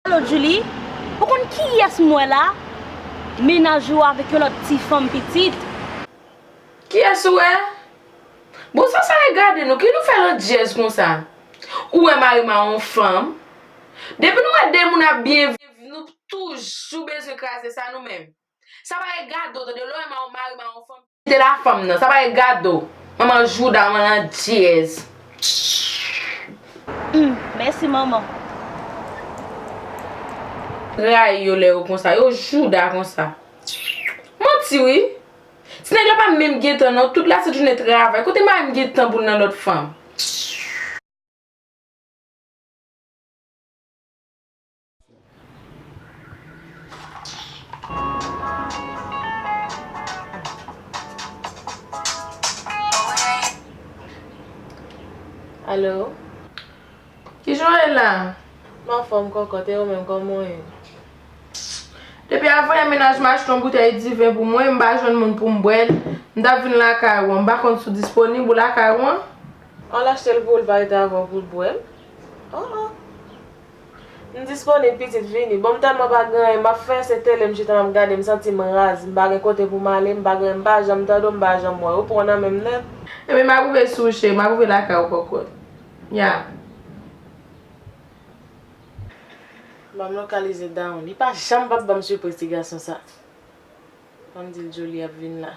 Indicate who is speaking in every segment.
Speaker 1: Alo Djoulie, ou konn kiyès m wè la? Mennaj ou avèk yon lòt ti fanm pitit.
Speaker 2: Kiyès ou wè? Bon sa sa ye gade nou, ki nou fè landjèz konsa? Ou wè mari m a yon fanm? Depi nou wè de moun ap byen viv nou toujou bezwen kraze sa nou menm? Sa pa e gado tande lè w ema yon mari ma yon fanm kite la fanm nan sa pa e gado manman jouda manman landyèz humm
Speaker 1: mèsi manman.
Speaker 2: Rayi yo lè yo konsa yo jouda konsa manti wi ti nèg la pa menm gen tan non tout la sèt jounen travay kote mari m gen tan pou l nan lòt fanm.
Speaker 3: Allo
Speaker 2: Kijan w ye la? M anfòm
Speaker 3: kòkòt e ou menm kòman w ye?
Speaker 2: Depi avan mennaj m achte yon boutèy diven pou mwen, m pa jwenn moun pou m bwè l, m t ap vin lakay ou an, m pa konn si w disponib ou lakay ou an? An l achte
Speaker 3: l pou l pa rete avè w pou l bwè l? An an. M disponib pitit vini. Bon m tèlman pa gen anyen map fè se tele m chita map gade m santi m raz m pa gen kote pou m ale m pa gen m pa janm tande w m pa janm wè w ou pran w nan men m nèt. Ebyen map rive
Speaker 2: sou w cheri map rive lakay w kòkòt. Yeah.
Speaker 3: Banm lokalize Down li pa janm pap banm sipriz ti gason sa Banm dil Joli ap vin la.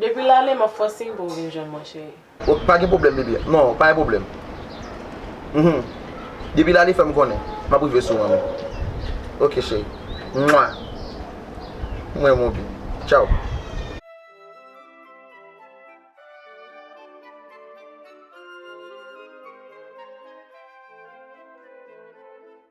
Speaker 3: Depi lale map fè w siy pou m vin
Speaker 4: jwenn mwen cheri. Ok pa gen pwoblèm bby non pa gen pwoblèm humm depi lale fè m konnen map rive sou an ok cheri mwa m renmen w pi tchaww.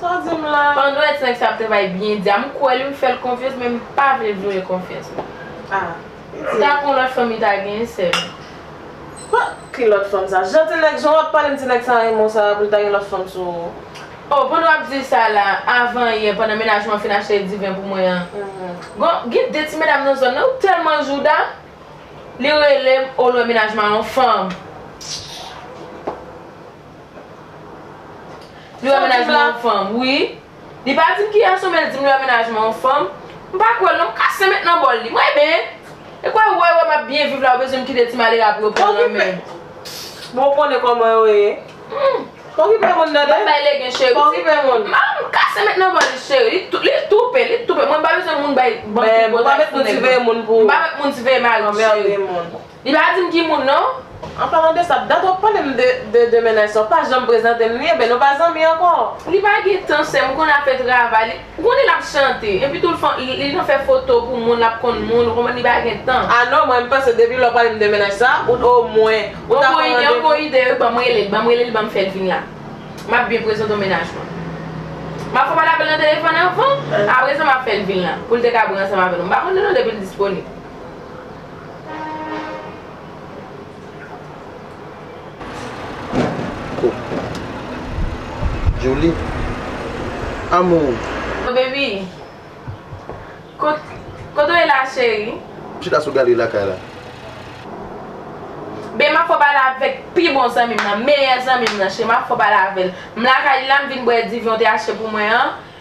Speaker 2: Sa w di m la?
Speaker 3: Pandan èd sa ap travay
Speaker 2: byen di a, m kwè li, m fè l konfyans men m pa vle l vyolen konfyans mwen. Ah,
Speaker 3: li di. Ta kon lòt
Speaker 2: fanm li ta genyen sè l. Huh!
Speaker 3: Ki lòt fanm sa? Jan ti nèg, jan w ap pale m ti nèg sa renmen w sa pou l ta gen lòt fanm sou ou? Oh, pandan w ap
Speaker 2: di sa la, avan yè pandan mennaj mwen fin achte diven pou mwen an, gon, gen de ti medam nan zòn nan yo tèlman jouda, li rele m, oh lwen mennaj mwen an yon fanm. Li wè menajman yon fanm wi Li pa dim ki gason men li dim li wè menajman yon fanm M pa kwèl non m kase met nan bòl li Mwen men E kòw wè wè map byen viv la ou bezwen m kite ti malere a pou yo pran nan menm Bon ou
Speaker 3: konnen kòman yo ye Pa okipe moun tande Map bay legen cheri Pa
Speaker 2: okipe moun
Speaker 3: M kase met nan
Speaker 2: bòl li cheri Li toupe li toupe Mwen m pa bezwen moun bay banm ti
Speaker 3: potaj pou nèg M pa met moun siveye mari
Speaker 2: m cheri Li pa dim ki moun non. An palan de sa,
Speaker 3: dat wap pale m de demen nan sa, ou pa janm prezante m li, eben nou pa zanmi anko. Li pa gen tan
Speaker 2: sèm ou konn ap fè travay li ou konnen lap chante epi tou li nan fè foto pou moun lap konn moun ou konprann li pa gen tan. Ah non mwen m panse depi
Speaker 3: lè w pale m de mennaj sa ou t o mwen ou ta pran randevou. Yon
Speaker 2: bon ide wi banm rele l banm rele l banm fèl vin la map byen prezante w mennaj mwen map fè w pale avèl nan telefòn avan apresa map fèl vin la poul te ka bri ansanm avè nou m pa konnen non depi l disponib.
Speaker 4: Joly amour. Bon
Speaker 2: baby Kote w ye la cheri. M chita sou galri
Speaker 4: lakay la.
Speaker 2: Bae map fè w pale avèk pi bon zanmi m nan, meyè zanmi m nan cheri map fè w pale avèl. M lakay li la m vin bwè divi w te achte pou mwen an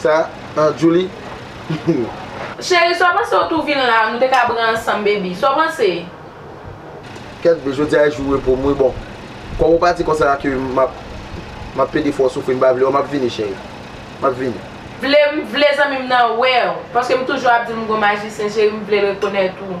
Speaker 2: Sa
Speaker 4: an Djoulie.
Speaker 2: Cheri sa w panse w tou vin la nou te ka bri ansanm baby sa w panse.
Speaker 4: Kèt bby jodia e jou repo m wi bon kòm ou pati konsa a ke map map plede fè w soufri m pa vle w map vini cheri map vini. Vle m vle
Speaker 2: zanmi m nan wè w paske m toujou ap di l m gon majisyen cheri m vle l rekonèt ou.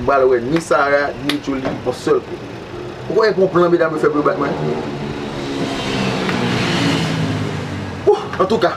Speaker 4: M pral wè ni Sarah ni Djoulie yon sèl kou. Ou kwè gen yon plan medam yo fè pou yo bat mwen? Ohh! Antouka!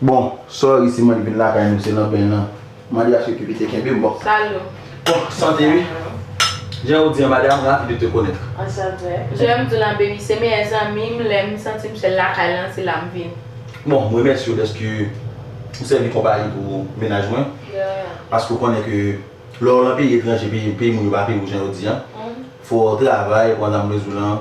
Speaker 4: Bon sorry si mwen vin lakay nou se nan ben nan mande aske kipi te kenbem bon. Salut. Bon
Speaker 2: sante wi.
Speaker 4: Jan ou di an madam ravi de te connaitre. An sa vre. Janm
Speaker 3: diw lan baby
Speaker 2: se meyè zanmim lem santim sel lakay lan se lam vini. Bon m remèsye
Speaker 4: w dèske ou sèvi konpayi pou mennaj mwen. De rien. Paske ou konnen ke lè w lan peyi etranje peyi moun yo pa peyi w jan yo di an. Fò travay pou Madame Mezoulan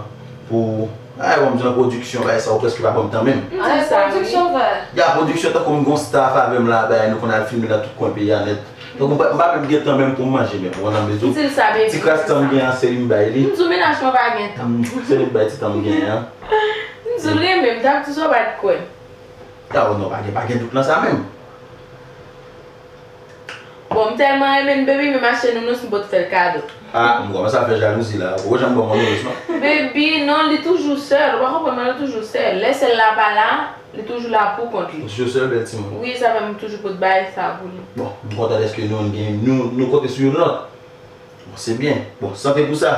Speaker 4: pou Ay banm jan production bay sa ou preske pa banm tan menm. Ay production
Speaker 2: va. Ya production
Speaker 4: tankou m gon staff avèm la bay nou konn al filme nan tout kwen peyi a nèt. Tankou m pa menm gen tan menm poum manje menm Madame Mezou. Ti kras tan
Speaker 2: m gen an se
Speaker 4: li m bay li. M zou menaj mwen pa gen
Speaker 2: tan. Se li m bay ti tan m
Speaker 4: gen an. M zou l
Speaker 2: renmen m, ta m di w sa w pat kwè. Ya o
Speaker 4: non pa gen dout nan sa menm.
Speaker 2: Bon m telman renmen n baby m vin achte nounous m pot fel kado. Ah m komanse ap fè
Speaker 4: jalouzi la ou poko janm banm yon nounous non. Baby non li
Speaker 2: toujou sèl ou pa konprann mwen li toujou sèl lè sèl la pa la li toujou la pou kont li. Li toujou sèl bèl timoun. Wi
Speaker 4: sa fè m toujou pot
Speaker 2: bagay sa pou li. Bon m kontan dèske
Speaker 4: nou gen nou nou konte sou youn lòt bon se byen bon sante pou sa.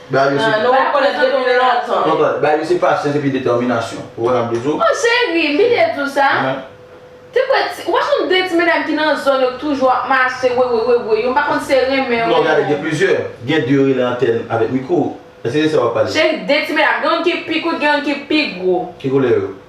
Speaker 2: Dario
Speaker 4: se. Nou pa
Speaker 3: konnen depi lontan. Mwen konnen. Dario se pasyans
Speaker 4: epi detèminasyon. Ou wè sa m vle di w? Oh cheri,
Speaker 2: mi te di w sa. Te kwè ti, ou pa konn de ti medam ki nan zòn yo k toujou ap mache wewe wewe yo m pa konn si se renmen yo. Non gade gen plizyè.
Speaker 4: Gen de yo rele antèn avèk miko. Èske se sa w ap pale? Cheri de ti medam. Gen youn
Speaker 2: ki pi kout gen youn ki pi gwo. Ki koulè yo?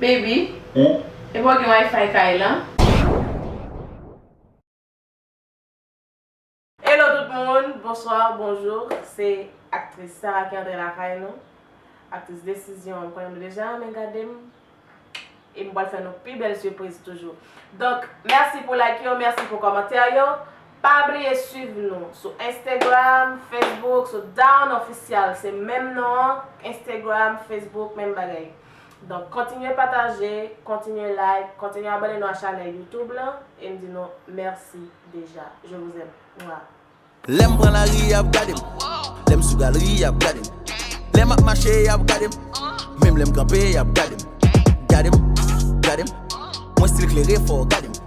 Speaker 2: Baby e pa w gen wifi kay lan?
Speaker 3: Hello tout moun, bonsoir, bonjour se aktris Sarah ki antre lakay nou aktris desizyon ou konnen m deja renmen gade m e m pral fè nou pi bèl sipriz toujou donk mèsi pou like yo mèsi pou kòmantè yo Pa bliye swiv nou sou Instagram, Facebook sou Down Official se menm non an Instagram, Facebook menm bagay. Donk kontinye pataje, kontinye like, kontinye abone nou a chanèl YouTube lan e m di nou mèsi deja. Je vous aime. Mwah. Lè m pran
Speaker 5: lari y ap gade m Lè m sou galri y ap gade m Lè m ap mache y ap gade m Menm lè m kanpe y ap gade m Gade m, gade m Mwen stil klere fò w gade m.